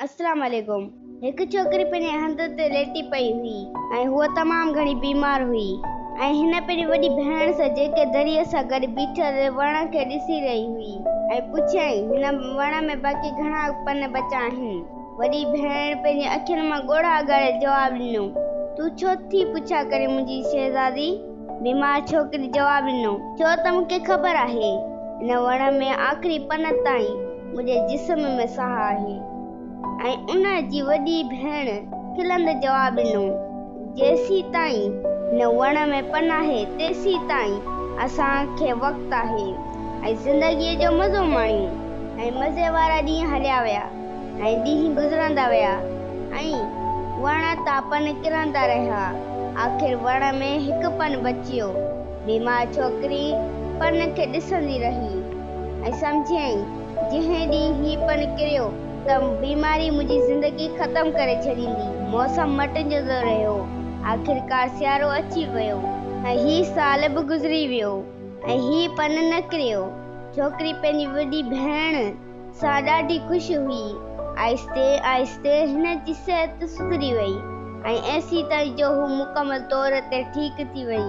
السلام عليڪم هڪ ڇوڪري پنهنجي هنڌ تي ليٽي پئي هئي ۽ هوء تمام گهڻي بيمار هئي ۽ هن پنهنجي وڏي ڀيڻ سان جيڪي دريء سان گڏ بيٺل وڻ کي ڏسي رهي هئي ۽ پڇيائين هن وڻ ۾ باقي گهڻا پن بچا آهن وڏي ڀيڻ پنهنجي اکين مان ڳوڙها اگهاڙي جواب ڏنو تون ڇو ٿي پڇا ڪرين منهنجي شهزادي بيمار ڇوڪري جواب ڏنو. ڇو ته مون کي خبر آهي هن وڻ ۾ آخري پن تائين منهنجي جسم ۾ ساهه آهي ۽ ان جي وڏي ڀيڻ کلندي جواب ڏنو. جيسين تائين هن وڻ ۾ پن آهي تيسين تائين اسان کي وقت آهي ۽ زندگي جو مزو ماڻيون ۽ مزي وارا ڏينهن هليا ويا. ۽ ڏينهن گذرندا ويا ۽ وڻ تان پن ڪرندا رهيا. آخر وڻ ۾ هڪ پن بچيو. بيمار ڇوڪري پن کي ڏسندي رهي ۽ سمجهيائين جنهن ڏينهن هي پن ڪريو ته بيماري منهنجي زندگي ختم ڪري ڇڏيندي. موسم مٽجندو رهيو. آخرڪار سيارو اچي ويو ۽ هي سال به گذري ويو ۽ هي پن نه ڪريو. ڇوڪري پنهنجي وڏي ڀيڻ. سا ڏاڍي خوش هئي. آهستي آهستي هن جي صحت سڌري وئي ۽ ايسي تائين جو هو مڪمل طور تي ٺيڪ ٿي وئي.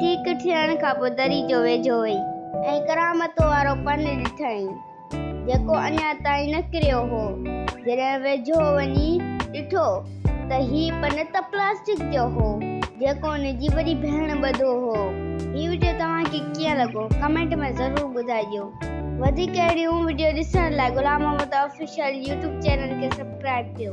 ٺيڪ ٿيڻ کان پوء دري جو ويجهو وئي ۽ ڪرامت وارو پن ڏٺائين، جيڪو اڃا تائين نه ڪريو هو. جڏهن ويجهو وڃي ڏٺو. ته هي پن ته پلاسٽڪ جو هو جيڪو ان جي وڏي ڀيڻ ٻڌو هو. هي وڊيو توهان کي ڪيئن لڳو ڪمينٽ ۾ ضرور ٻڌائجو. وڌيڪ اهڙيون وڊيو ڏسڻ لاء Ghulam Muhammad official YouTube channel کي سبسڪرائب ڪيو.